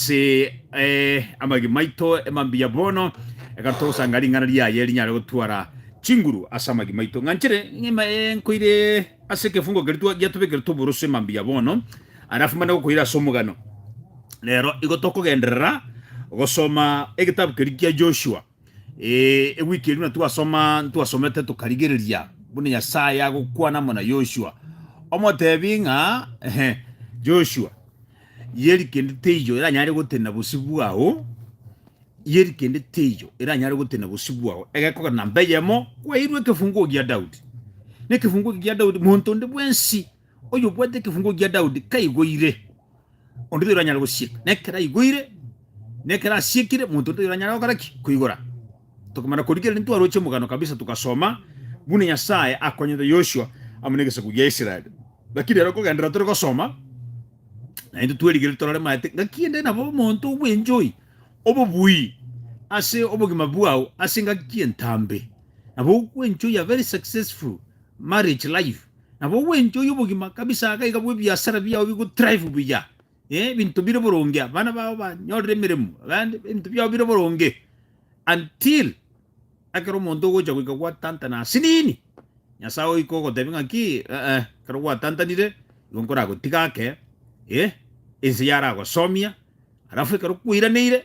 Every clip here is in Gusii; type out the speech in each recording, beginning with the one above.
Ase amagima maito mambia bono, ekero togosanga ring'ana riaye rinyare gotwara chinguru ase amagima maito. Ng'anchire ng'ima eye nkoire ase ekefungo keria giatobekerete oborosio mambia bono, alafu mbande gokoira ase omogano. Rero igo tokogenderera gosoma egetabu keria kia Joshua. Eh, ewiki eri buna twasoma twasomete tukarigereria buna nyasaye agokwana amo na yoshua omotebi ng'a ehe, joshua yeri kende teiyo eranyare gotenena bosio bwao yeri kende teiyo eranyare gotenena bosio bwao egekogera namba eyemo kwairwe ekefunguo gia daudi na ekefunguo eke gia daudi monto onde bwensi Oyo obwate ekefungo gia Daudi kaigoire, onde taiyo oranyare gosieka, na ekero aigoire, na ekero asiekire, monto onde taiyo oranyare gokora ki? Koigora. Tokomana korigereria ntwaroche omogano kabisa togasoma buna Nyasae akonyete Yoshua amo negesaku gia Israel. Gaki rero kogenderera tore gosoma, naintwe twerigererie torore maete ngaki ende nabo omonto obwenchoi obobui ase obogima bwao ase engaki entambe, nabo ogwenchoia very successful marriage life. Nabo ogwencha oyio obogima kabisa aga iga bw'ebiasara biao bigotrive buya, eh, ebinto bire boronge, abana bao banyorire emeremo, abande ebinto biao bire boronge until ekero omonto ogocha goika gwatantana ase nini, Nyasae ogoika ogotebia ng'aki, eh-eh, ekero gwatantanire igo nkoragotiga ake, eh, ense yaragosoomia, alafu ekero kwairaneire.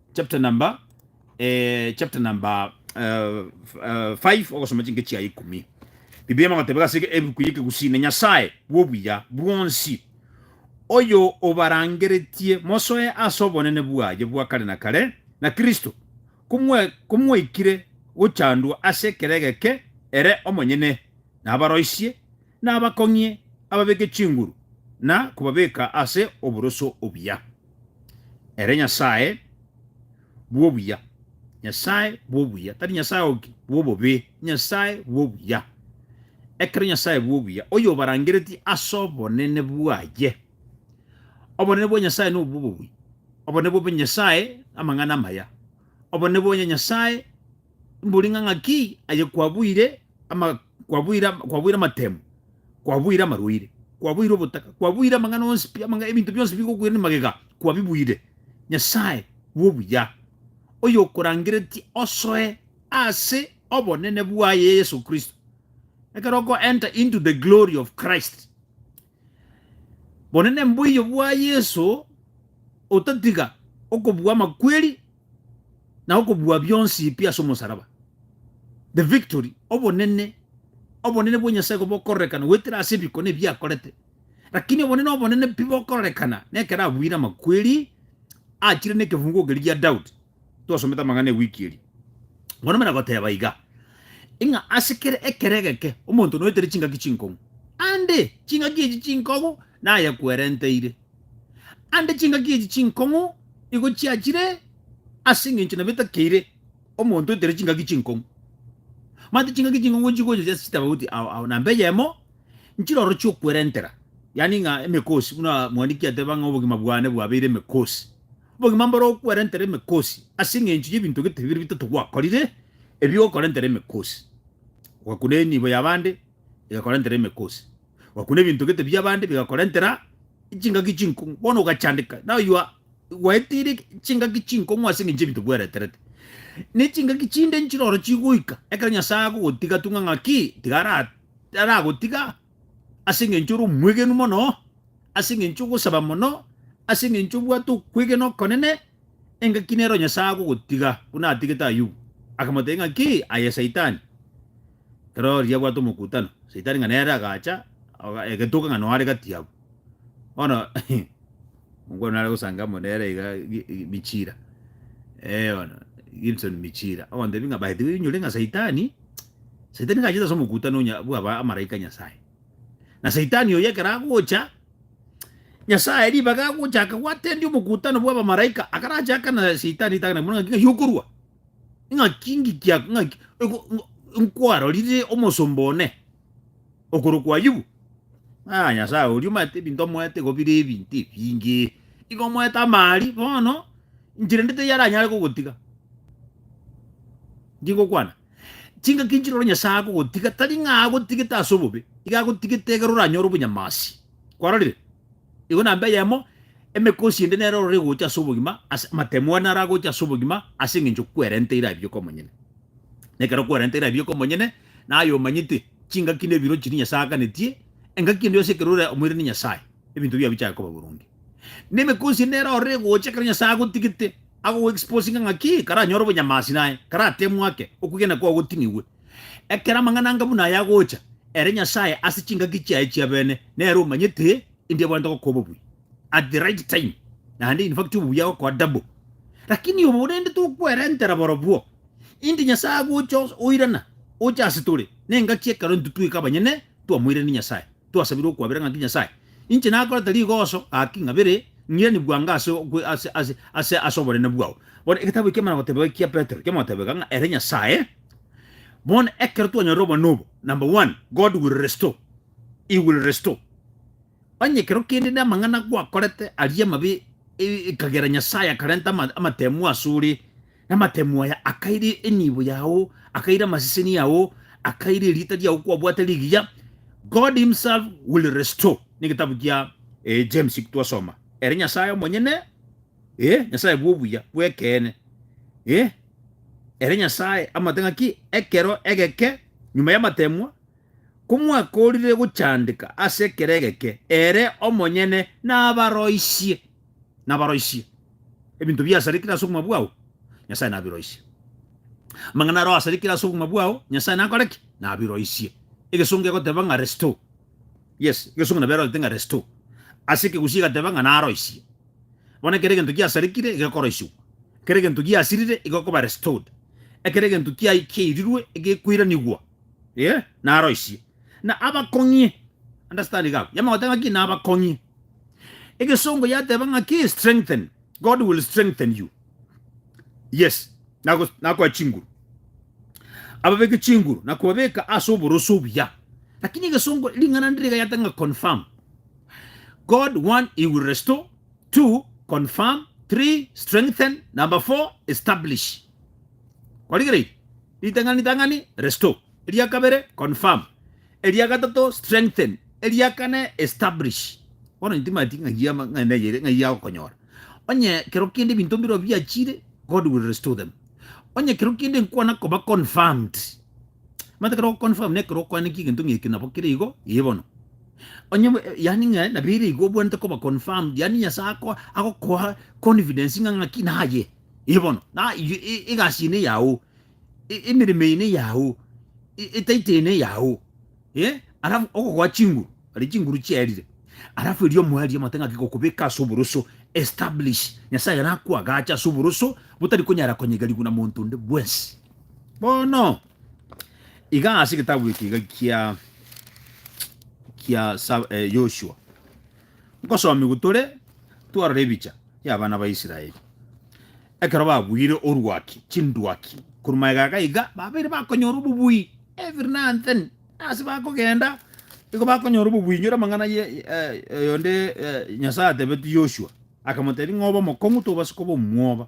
Chapter number eh, chapter number eh, f- eh, five ogosoma chinke chia ikumi biblia magoteba gase ebuku yekegusine nyasaye bwobuya bwonsi oyo obarangeretie mosoe ase obonene bwaye bwa kare na kare na kristo komwe- komwaikire gochandwa ase ekero egeke ere omonyene nabaroisie nabakong'ie ababeke chinguru na kobabeka ase oboroso obuya Ere Nyasae bw'obuya, Nyasae bw'obuya, tari Nyasae oki bw'obobe, Nyasae bw'obuya, ekero Nyasae bw'obuya, oyobarangeretie as'obonene bwaye. Obonene bwa Nyasae nobw'obobuya, obonene bw'obuya Nyasae namang'ana amaya, obonene bwa Nyasae mbori ng'a ng'aki aye kwabuire ama kwabuire, kwabuire amatemo, kwabuire amarwaire, kwabuire obotaka, kwabuire amang'ana onsi pi, amang'a- ebinto bionsi bigokwira ne magega, kwabibuire. Nyasae bw'obuya, oyokorangeretie osoe ase obonene bwaye Yeso Kristo, ekero okoenter into the glory of Christ, Bonene mboiyo bwa Yeso otatiga okobua amakweri na okobua bionsi pi ase omosaraba. The victory, obonene, obonene bwa Nyasaye ko bokororekana goetera ase ebikone ebi akorete. Lakini obonene obonene pi bokororekana nekero abuire amakweri achire nekefungugo keria gia Daudi. twasomete amang'ana ewiki eria, bono mbare goteba iga, ng'a ase kera ekero egeke omonto noetere chingaki chinkong'u, ande chingaki echi chinkong'u nayekwerenteire, ande chingaki echi chinkong'u igo chiachire ase eng'encho nabo etakeire omonto oetere chingaki chinkong'u. Mati chingaki chinkong'u nchigocha chiase chitaba goti ao ao namba eyemo nchiroro chiokwerentera, yaani ng'a emekosi buna mwandikia ateba ng'a obogima bwane bwabeire emekosi. Obogima mbore okwerentera emekosi ase engencho y'ebinto gete bibere bitato gwakorire, ebi bigokorentera emekosi. Ogakuna enibo y'abande, egakorentera emekosi. Ogakuna ebinto gete bi'abande, bigakorentera chingaki chinkong'u. Bono ogachandeka now you are gwaetire chingaki chinkong'u ase engencho y'ebinto bwereterete. Ne chingaki chinde nchire oro chigoika ekero Nyasae agogotiga tung'a ng'a ki? Tiga ara- aragotiga. ase engencho ore omwegenu mono, ase engencho ogosaba mono, ase engencho obwate okwegena okonene, engaki nero Nyasae agogotiga, buna atigete Ayubu. Akamotebia ng'aki, Aye Saitani, ekero riria bwate omokutano, Saitani ng'a nere agacha, oga- egetoka ng'a noare gati yabo. Bono omokoro nare gosanga amo nere iga gi- gi- Michira, eono Gibson Michira, ogotebia ng'a by the way onyore ng'a saitani, saitani nigo achete ase omokutano onya bwa ba amaraika a Nyasaye. Na saitani oyo ekero agocha, Nyasaye ribaga agocha aka gwatendia omokutano bwa abamaraika, akarache aka na saitani ritang'ani amo ng'a ng'aki okorwa? Ng'aki ngiki ak- ng'aki oko- ngo- nkwarorire omosomba one, Okorokwa Ayubu. Ng'a Nyasae oria omanyete ebinto omoete igo bire ebinto ebinge, igo omoete amaari bono inche rende taiyo aranyare kogotiga. Inki ngokwana? Chingaki inchire ore Nyasae akogotiga, tari ng'a agotigete ase obobe, iga agotigete ekero oranyore obonyamasi. Kwarorire? Igo namba eyemo, emekosi ende nero ororo egocha ase obogima, ase amatemo ande naro agocha ase obogima ase eng'encho kwerenteire aye bioka omonyene. Na ekero kwerenteire aye bioka omonyene. Naye omanyete chingaki na ebirochi ebi Nyasae aaganetie, engaki ende yonsi ekero ore omoirani Nyasae, ebinto biao bichake koba boronge. Na emekonsi ende nero orore gocha ekero Nyasae agotigete, agogoexposinga ng'a ki karanyore obonyamasi naye karatemwe ake, okwegena kwao goting'igwe. Ekero amang'ana anga buna aya agocha, ere Nyasae ase chingaki chiaye chiabene, nere omanyete endiabwanete gokoa obobuya. at the right time naende in fact obobuya agokoa double lakini obo rende tokwerentera borobwo inde nyasae agocha os- oirana ocha ase tore nengaki ekero intwe tweka abanyene twamoirani nyasae twasabire okwabera ng'aki nyasae inche nakorete rigoso gaki ng'abere ng'irani bwango ase okwe- ase- ase- ase ase oborene bwao bono egetabu ekio ekemana goteba ekia petero kemoteba iga ng'a ere nyasae bono ekero twanyorire obonene obo number one god will restore he will restore Onye ekero kende namang'ana gwakorete aria amabe ekagera Nyasae akarenta amatemu asore, na amatemu aya akaire enibo yao, akaire amaseseni yao, akaire erieta riao kwabwate rigiya, God himself will restore. Negetabu kia eh, James twasoma. Ere Nyasae omonyene, eh, Nyasae bw'obuya bw'ekeene, eh, ere Nyasae amate ng'aki ekero egeke nyuma y'amatemwa, Komwakoorire gochandeka ase ekero egeke, ere omonyene nabaroisie, nabaroisie. Ebinto biasarikire ase obogima bwao, Nyasae nabiroisie. Amang'ana aro asarikire ase obogima bwao, Nyasae nakore ki? Nabiroisie. Egesongo kegoteba ng'a restore. Yes, egesongo nabo erorete ng'a restore. Ase ekegusii egateba ng'a naroisie. Bono ekero egento giasarikire egekoroisiwa. Ekero egento giasirire egekoba restored. Ekero egento kiai kiairirwe egekweranigwa. Ee, naroisie. Na abakong'ie. Understand gabo. Yamagoteba ng'aki? Nabakong'ie. Egesongo yateba ng'aki? Strengthen. God will strengthen you. Yes. Nago, nakoa chinguru. Ababeke chinguru, nakobabeka ase oboroso obuya. Lakini egesongo, ring'ana ndire rigayata ng'a confirm. God, one, he will restore. Two, confirm. Three, strengthen. Number four, establish. Kwarigereiri. Ritang'ani tang'ani, restore. Eria kabere, confirm. Eria gatato, strengthen. Eria kane, establish. Bono intimati ng'ai ama- ng'ai neyere ng'ai yagokonyora. Onye kero kende ebinto mbirobio biachire, God will restore them. Onye kero kende nkwana koba confirmed. Omanyete ekero ogoconfirm na ekero okwaneki egento ng'eke nabo kere igo, ee bono. Onye bwe- eh, yaani ng'a nabo ere igo obwenerete koba confirmed, yaani Nyasae ako- agokoa confidence ng'a ng'aki naye. Ee bono, na igo e- egasi eye neyao, e- emeremo eye neyao, e- etaito eye neyao, eh, alafu ogogoa chinguru, aria chinguru chiarire, alafu erio omwari omate ng'aki gokobeka ase oboroso, establish, Nyasaye ekero akoagacha ase oboroso, botari konyara konyegerigwa na monto onde bwensi. Bono, iga ase egetabu eke iga kia kia sa- eh, Yoshua. Nkosomigwa tore twarora ebicha y'abana ba Israeli ekero babuire orwaki, chindwaki, korwa magega aga iga, babeire bakonyora obobui every now and then, ase bakogenda igo bakonyora obobui. Inyora amang'ana ye oyonde Nyasae atebetie Yoshua, akamotebia ng'obe omokong'u tobase koba omwoba,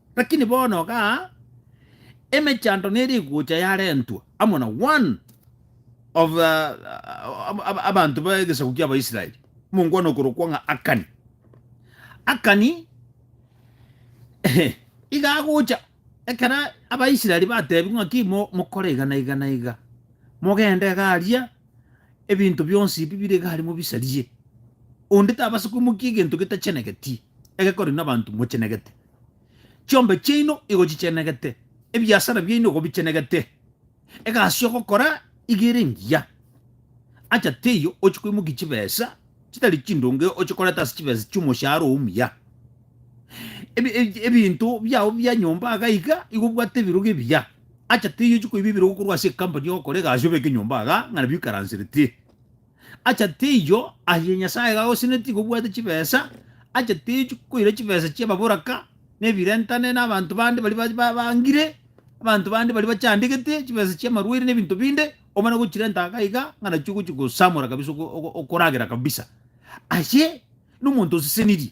Lakini bono iga emechando nere egocha yarentwa amo na one of uh, abanto b'egesaku ki'Abaisraeli, omongwana okorokwa ng'a Akani. Akani iga agocha ekero Abaisraeli batebiwa ng'aki mokore iga na iga na iga, mogende iga aria, ebinto bionsi ebi bire iga aria mobisarie, onde tabasa koimokia egento getachenegeti, egekorwa nabanto mochenegete. Chiombe chiaino igo chichenegete, ebiasara biaino igo bichenegete, egasi ogokora igo ere engiya. Acha teiyo ochia koimokia chibesa chitari chindonge ochie koreta ase chibesa chi'omoshahara oo omuya. Ebi- ebi- Ebinto biao bia nyomba iga iga igo obwate ebirogo ebiya. Acha teiyo ochie koiba ebirogo korwa ase ecompany ogokora egasi obeke nyomba iga ng'a nabio oikaransereti. Acha teiyo aye Nyasae iga agosenetie iga obwate chibesa, acha teiyo chikoira chibesa chi'ababoraka, na ebirentane, na abanto bande baria ba- ba- bangire, abanto bande baria bachandegete, chibesa chi'amarwaire na ebinto binde, omana gochirenta iga iga ng'a nachio ogochi gosamora kabisa ogo- ogo- okoragera kabisa. Aye nomonto osesenirie,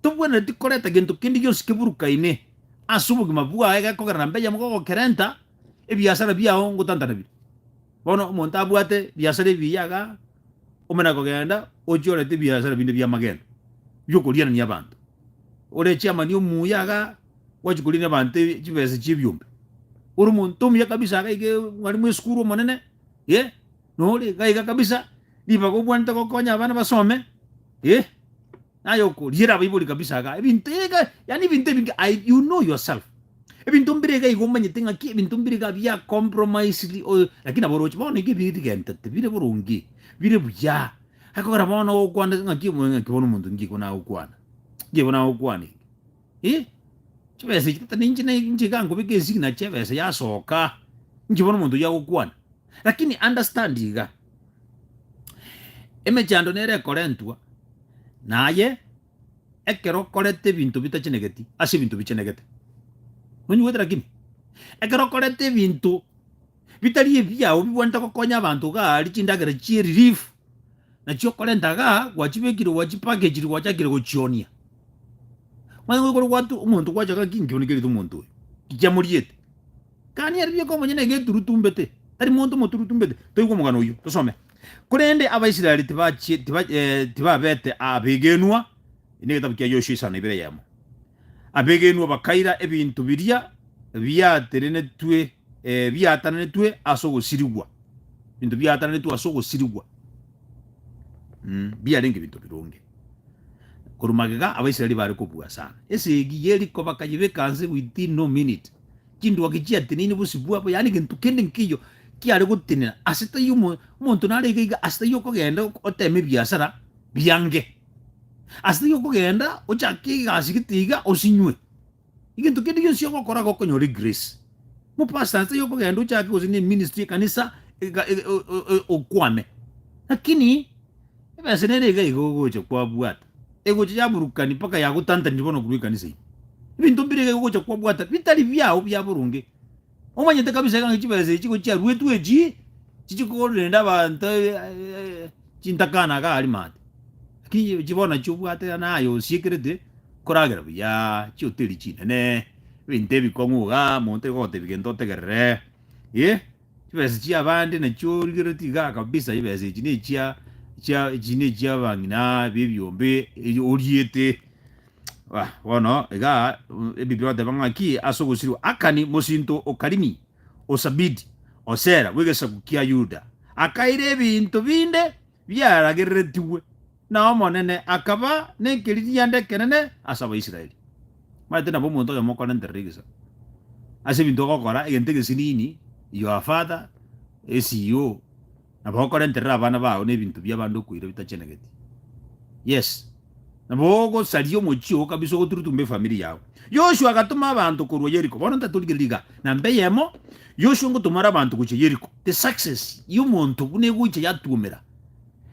tobwenereti koreta gento kende gionsi keburukaine as'obogima bwaye, gekogera nambeyemo gogokerenta, ebiasara biao ngotantanabire. Bono omonto abwate biasara ebi biyaga, ome na kogenda, ochia orete ebiasara binde bi'amagendo, bi'okorianania abanto. Ore chairman omuya iga, gwachia koriania abanto e- chibesa chi'ebiombe. Ore omonto omuya kabisa iga iga e- mwalimu esukuru omonene, eh, nore iga iga kabisa, ribaga obwanete gokonya abana basome, eh. Naye okoriera abaibori kabisa iga ebinto iga yaani ebinto ebinge I, you know yourself ebinto mbire iga igo omanyete ng'aki ebinto mbire iga bia compromised oyo lakini nabo oroche bono iga ebirigentete bire boronge bire buya akogera bono ogokwana ng'aki omonene ng'aki bono omonto ngigo nagokwana ngigo nagokwana eke. Eh, chibesa echi tata ninche ne- nchiga nkobeka esignature ebesa yasoka nchibone omonto oyio agokwana lakini understand iga emechando nere ekorentwa naye ekero okorete ebinto bitachenegeti ase ebinto bichenegete nonyigoete lakini ekero okorete ebinto. bitari ebiao bigwenerete gokonya abanto iga aria chindagera chie relief nachio okorenta iga gwachibekire gwachipakechiri gwachakire gochionia manye goikore gwatu omonto gwacha iga ki nkionigerete omonto oyo nkiamoriete kani erio rieka omonyene iga eturutumbete tari monto omoturutumbete toigwe omogano oyio tosome korende abaisraeli tibachie tiba tibabete abegenwa inde egetabu kia Yoshua isano ibere eyemo abegenwa bakaira ebinto biria biaterenetwe Ebiatananetwe ase ogosirigwa, ebinto biatananetwe ase ogosirigwa mbiarenge ebinto bironge. Korwa magega Abaisraeli baare kobua sana. Esegi Yeriko bakayebeka nse within no minute. Chinduaki chiateneine bosibwa abo, yaani egento kende nkeiyo kiare gotenena ase taiyo omo- omonto nare iga iga ase taiyo okogenda ok- oteme ebiasara biange, ase taiyo okogenda ochake egasi gete iga osinywe. Egento kende gionsi ogokora gokonyora egrace. Mopastor nse yokogenda ochake gose ne ministry ekanisa eka- e- o- o- o- okwame. Lakini ebesa nere iga iga ogocha kwabwata. Egocha yaburukani mpaka yagotantaniri bono korwa ekanisa ime. Ebinto mbire iga iga ogocha kwabwata bitari biao bia boronge. Omanyete kabisa ekero chibesa echi gochia ruetwe echi chichia kogorera ende abanto chintakana iga arimate lakini chi bono nachio obwate naye osiekerete koragera buya chihoteri chinene ebinto ebikong'u iga monto tari kogotebia gento otegerere eh chibesa chia abande nachio origeretie igaa kabisa chibesa echi nechia chia echi nechia abang'ina ba ebiombe erio oriete. Ah, bono iga mm, ebibira oteba ng'aki ase ogosirwa Akani mosinto o Karimi, o Sabidi, o Sera bw'egesaku kia Yuda, akaira ebinto binde biaragereretigwe, na Omonene akaba nekeririanda ekenene ase Abaisraeli. Maete nabo omonto oyomo okorenterera egesaku ase ebinto ogokora, egento egesinini, your father, SEO, Nabo okorenterera abana bao nebinto bi'abande okoira bitachenegeti. Yes. Nabo ogosaria omochie oo kabisa ogoturutumba efamiri yao. Yoshua agatoma abanto korwa Yeriko. Bono ntatorigereria iga. Namba eyemo, Yoshua ngotoma are abanto gochia Yeriko. The success y'omonto buna egocha yatuomera.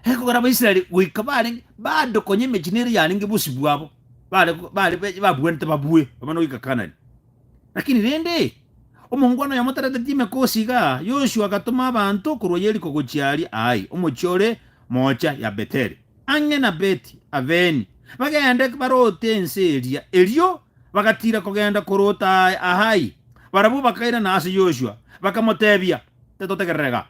Ekogera Abaisraeli goika barenge bado konya emechie nere yarenge bosibwa abo bare bare babwanete babue, abana goika Kanani. Lakini rende, omongwana oyomo tareteti emekosi iga, Yoshua agatoma abanto korwa Yeriko gochia aria Ai, omochie ore moocha ya Betheli, ang'e na Beti Aveni, bagende baroote ense eria. Erio bagatiira kogenda koroota Ai. Barabwo bakairana ase Yoshua, bakamoteebia, Tetotegerere iga.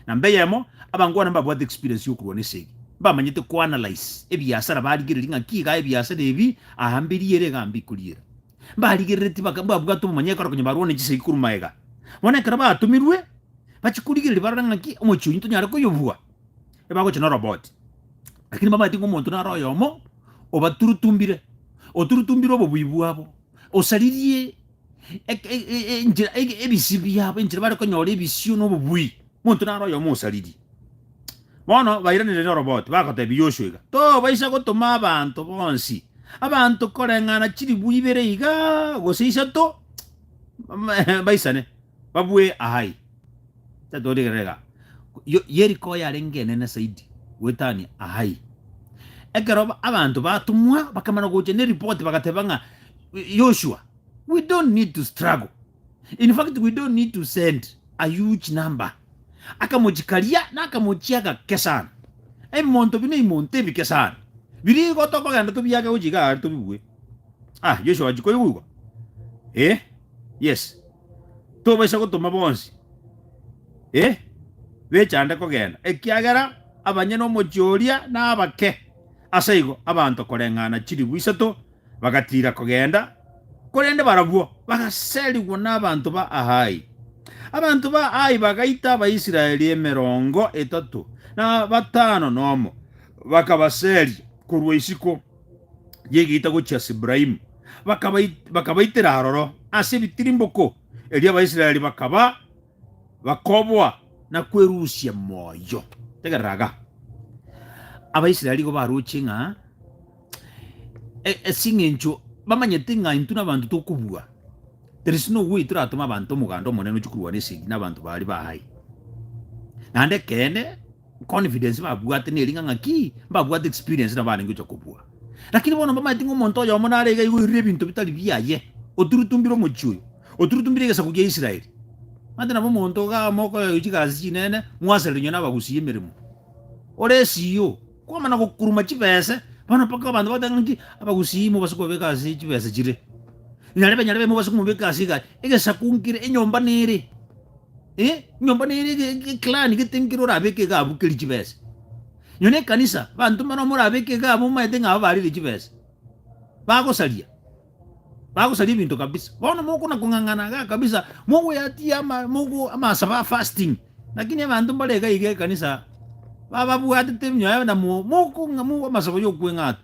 Na mb'eyemo, abangwana mbabwate experience y'okorwana ense eye, mbamanyete koanalyse ebiasara barigereria ng'a ki iga ebiasara ebi aamberie ere iga ambikori ere. mbarigereretie baka- mbabwate obomonyekano konya barwa ne chisegi korwa maega. Bono ekero batomirwe bachi korigereria barore ng'aki omochie oyio tonyare koyobua, ebagocha na oroboti. Lakini bamaete ng'a omonto naro oyomo obaturutumbire, oturutumbire obobui bwabo, osaririe eke- e- e- enchera ege- ebisio biabo enchera bare konyora ebisio na obobui, omonto naro oyomo osaririe. Bono bairanereria oroboti, bagotebia Yoshua iga, Tobaisa gotoma abanto bonsi, abanto koreng'ana chilifu ibere iga, gose isato, baisane, babue Ai. Tatorigerera iga. Yeriko yarenge enene zaidi goetania Ai. Ekero abanto batomwa, bakamana gocha neripoti, bagateba ng'a, Yoshua, we don't need to struggle. In fact we don't need to send a huge number akamochi karia nakamochi agake sana ebimonto bino imonto ebike sana biria igo tokogenda tobiage gochia iga aria tobibue ah Joshua ochi koigwa igwa eh yes tobaisa gotoma bonsi eh bechande kogenda ekiagera abanyene omochie oria nabake aseigo abanto koreng'ana chilifu isato Bagatiira kogenda, korende barabwo bagaserigwa nabanto ba Ahai. Abanto ba Ahai bagaita Abaisraeli emerongo etato na batano nomo, bakabaseria korwa isiko y'egeita gochia Sibraimu, bakabaitera aroro ase ebitirimboko, erio Abaisraeli bakaba Bakoboa na kwerusia moyo. Tegerera iga. Abaisraeli igo baroche ng'a asing'encho bamanyete ng'a intwe nabanto tokobua, there is no way toratome abanto omoganda omonene ochia korwana esegi nabanto baria bahaye. Naende ekeene. confidence babwate ne ring'a ng'a ki mbabwate experience na barenge gocha kobua lakini bono mbamaete ng'a omonto oyomo nare iga igo oirire ebinto bitari biaye oturutumbire omochie oyo oturutumbire egesaku gia Israeli mate nabo omonto iga amo okoyoywa chigasi chinene mwaserire nyuma nabagusia emeremo ore esiyo kwamana gokuruma chibese bono mpaka abanto bagoteba ng'a ki abagusia mobase kobabeka ase chibese chire nyarebe nyarebe mobase komobeka ase iga egesaku nkire enyomba nere Eh, nyomba nere ge- ge- clan getengire orabeke egabo keri chibesa. Nyo ne kanisa banto mara morabeke egabo omaete ng'aba barire chibesa. Bagosaria. Bagosaria ebinto kabisa. Bono mokona kong'ang'ana ga kabisa mogoyatia ama mogo amasaba fasting. Lakini abanto mbare iga iga ekanisa bababwatete nyayo na mo mokong'a mo amasabo yokweng'ata.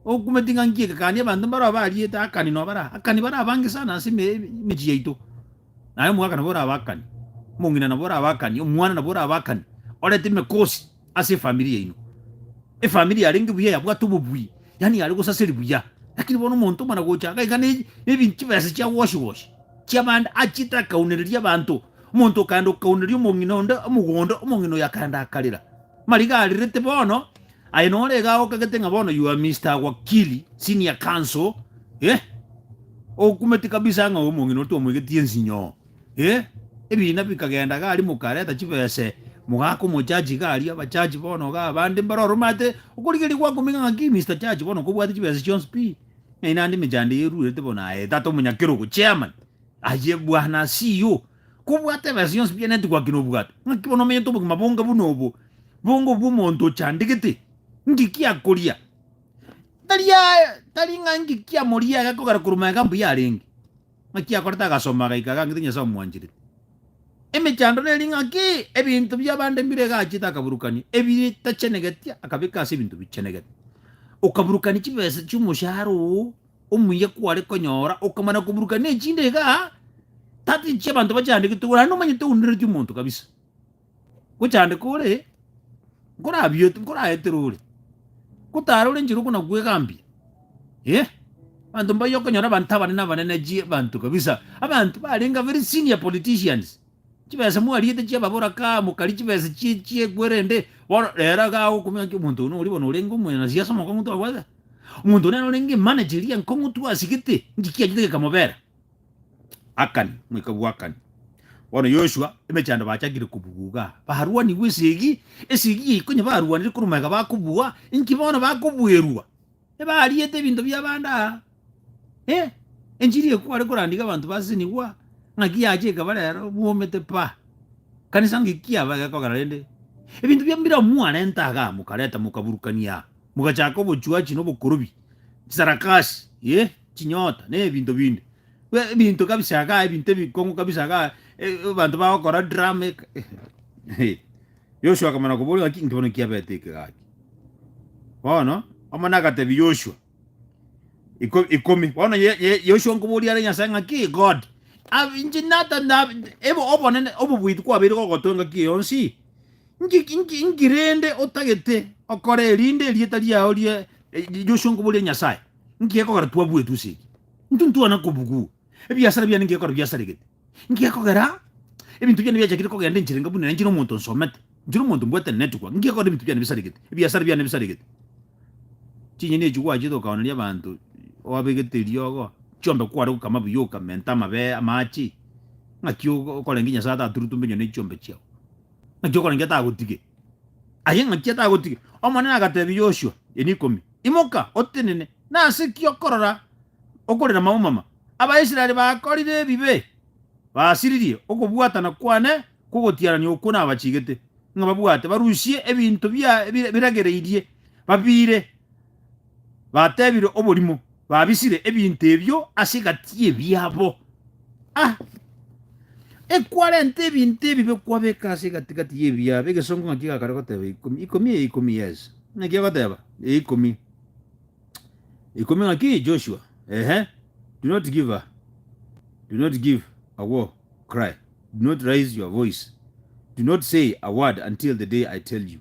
Okumeti ng'a nkiekekani abanto mbaro bariete akani nobara akani bara abange sana ase eme- emechie yaito. Naye omogaka nabo orabakanie, omong'ina nabo orabakanie, omwana nabo orabakanie, orete emekosi ase efamiri yaino. Efamiri yarenge buya yabwate obobui, yaani yare gosaseri buya. Lakini bono omonto omana gocha iga iga ne- nebi- chibesa chia goshi goshi chiabande achiete akaunereria abanto. Omonto okaenda okaunereria omong'ina onde omogondo, omong'ina oyo akaenda akarera. Mariga arerete bono, Aye nore iga agokagete ng'a bono you are Mister Wakili, Senior Counsel, eh? Ogokumeti kabisa ng'a oyo omong'ina oria twamoigetie ensinyo, eh? Ebiina bikagenda iga aria mokareta chibese, mogaka omochachi iga aria, abachachi bono iga abande mbare ororo omanyete okorigereria gwakominga ng'a ki Mister Chachi bono kobwate chibese chionsi pi, ng'ai naende emechando eye eruerete bono aye tata omonyakerogo, Chairman, aye bwana CEO. Kobwata ebesa yonsi bianetie goakina obwato, ng'aki bono omenyete obogima bonga buna obo, bonga obw'omonto ochandegete? Ng'iki akoria, tari aa, tari ng'a ng'iki amoria agakogera korwa magega mbuya arenge? Ng'aki akorete agasoma agaika agang'ita Nyasae omwancherete? Emechando neri ng'aki? Ebinto bi'abande mbire egachete akaburukania, ebitachenegetia akabeka ase ebinto bichenegete, okaburukania chibesa chi'omoshahara oo Omuya kware konyora okamana koburuka ne chinde iga tati chia banto bachandegete igoro naende omanyete oundereti omonto kabisa gochandeka ore nkorabiete nkoraetere ore kotara ore nchera okona kwegambia eh banto mbaye okonyora abanto abanene abanene chie banto kabisa abanto barenga very senior politicians chibesa mwariete chia babora kaa mokari chibesa chie chie kwerende bono rero iga agokumia ngaki omonto oyo nori bono orenge omonyana siasa omokong'u twabwate. Omonto onene orenge emanager eria nkong'utwa ase egete, inche kianchete gekamobera. Akani, omoika bwa Akani. Bono Yoshua, emechando bachakire kobugwa iga, barwanigwe esegi, esegi eye konya barwanire korwa magega bakobua, inki bono bakobuerwa? Ebariete ebinto bi'abande aa. Eh, enchiri eye kware korandiga abanto ba Asinigwa, ng'aki yacha ekaba rero bwomete paa. Kanisa ng'eki kiaba egekogera rende? Ebinto bia mbire amo mwarenta igaa, mokareta mokaburukania aa. Mogachaka obochuachi na obokorobi, chisarakasi, eh, chinyota, na ebinto binde. Bwe- Ebinto kabisa igaa, ebinto ebikong'u kabisa igaa, eh, abanto bagokora drama eka. Eh, Yoshua akamana koboria ng'aki nki bono kiabete eke gaki. Bono, omone agatebia Yoshua, iko- ikomi. Bono ye- ye- Yoshua nkoboria are Nyasae ng'aki God, ab- inche nata- nab- ebe obonene, obobuiti kwabeire gogotoa engaki eye yonsi? Nki, nki, nki rende otagete okora erinde erieta riao rie riosongo boria Nyasae? Nki gekogera twabuetwe ase eki? Intwe ntwana kobugua. Ebiasara biane nki gekora biasaregete? Nki gekogera ebinto biane biachakire kogenda enchera enga buna inchire omonto nsomete? Inchire omonto mbwate network. Nki gekogera ebinto biane bisaregete? Ebiasara biane bisaregete. Chinyeni echi gwachete okaoneria abanto oabegete eriogo, chiombe kware gokama buya okamenta amabee, amache, ng'aki okorenge Nyasae ataturutombe nyone chiombe chiao? ng'aki okore inki atagotige? Aye ng'aki atagotige? Omonene agatebia Yoshua, Eri ikomi, Imoka, otenene! Nase ki okorora okorera amaumama? Abaisraeli bakorire ebibe, basiririe okobwatana kwane kw'ogotiarania okwo nabachigete, ng'a babwate barusie ebinto biragereirie, babiire batebire oborimo, babisire ebinto ebio ase egati y'ebiabo. Ah! Ekwarenta ebinto ebibe kwabeka ase egati-gati y'ebiabo. Egesongo ng'aki gakare goteba ikomi, ikomi eye ikomi yes. Ng'aki agoteba eye ikomi. Ikomi ng'aki Joshua. Ehe. Do not give her. Do not give a war cry. Do not raise your voice. Do not say a word until the day I tell you.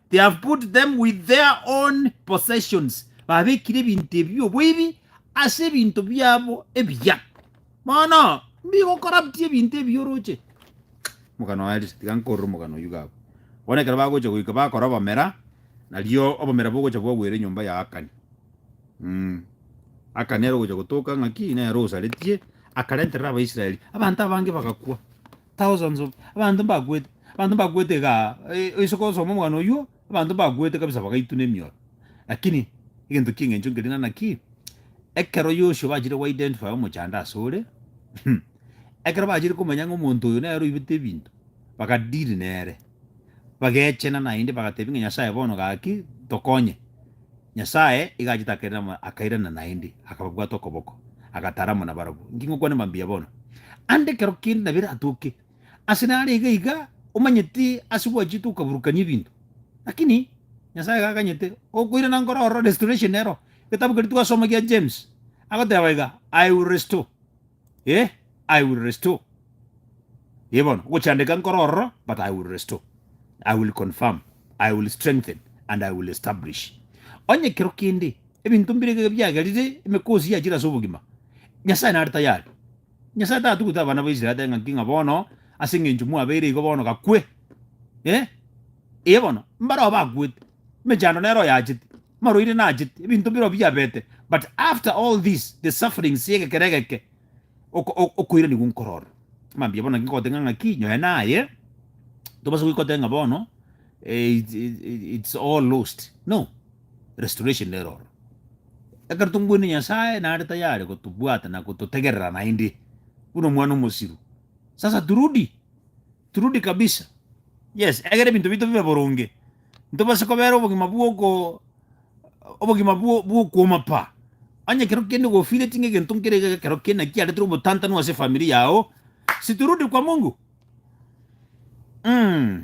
They have put them with their own possessions, babekire ebinto ebi oboibi ase ebinto biabo ebiya. Bono mbigokorabutia ebinto ebi oroche. Omogano oye risa, tiga nkorere omogano oyio gabo. Bono ekero bagocha goika bakora obomera, nario obomera bogocha bwagwera enyomba ya Akani. Mm. Akani ere ogocha gotoka ng'a ki nere osaretie, akarenterera Abaisraeli, abanto abange bagakwa. Thousands of abanto mbakwete abanto mbakwete iga eh, isiko osoma omwana oyuo abanto mbakwete kabisa bagaituna emioro lakini egento kia eng'encho nkeria ng'a naki ekero Yoshua bachire go identify omochando ase ore ekero bachire komanya ng'a omonto oyo nere oibete ebinto baka deal nere bagechena naende bagatebia ng'a Nyasaye bono gaki tokonye. Nyasae iga achitakerire amo akairana naende, akababwata okoboko, agatara amo nabarabwo. Inki ngokwane mambia bono? Ande ekero kende nabere atoke. Ase nare iga iga, omanyeti ase gwachete okaburukania ebinto. Lakini Nyasae iga aganyete, okoirana nkoro ororo, restoration ero. Egetabu keria twasoma gia James, agoteba iga, I will restore. Yea, I will restore. Yea bono, ogochandeka nkore ororo, but I will restore, I will confirm, I will strengthen, and I will establish. Onye ekero kende ebinto mbire iga biagerire, emekosi yachire ase obogima, Nyasae nare tayari. Nyasae tatugute abana ba Israel ateebe ng'aki ng'a bono ase eng'encho mwabeire igo bono gakwe. Yea, yea bono, mbareo bakwete, emechando nero oyachete. marwaire nachete, ebinto birobio biabete, but after all this, the sufferings y'egekero egeke, oko- o- okoiranigwa nkorora. Mambia bono naki nkogoteng'era ng'aki, nyoe naye, tobasa goika otebe ng'a bono eh, it- it- it- it's all lost, no, restoration nere oro. Ekero tongweine Nyasaye, nare tayari gotobwata na gototegerera naende, buna omwana omosiru. Sasa turudi. Turudi kabisa. Yes, egera ebinto biaito bibe boronge, ntobase kobera obogima bw'oko obogima bwo- bw'okwoma pa. Onye ekero kende gofiireti ng'a egento nkere iga ekero kende naki kiaretire obotantanu ase efamiri yao, si turudi kwa Mungu? Mm.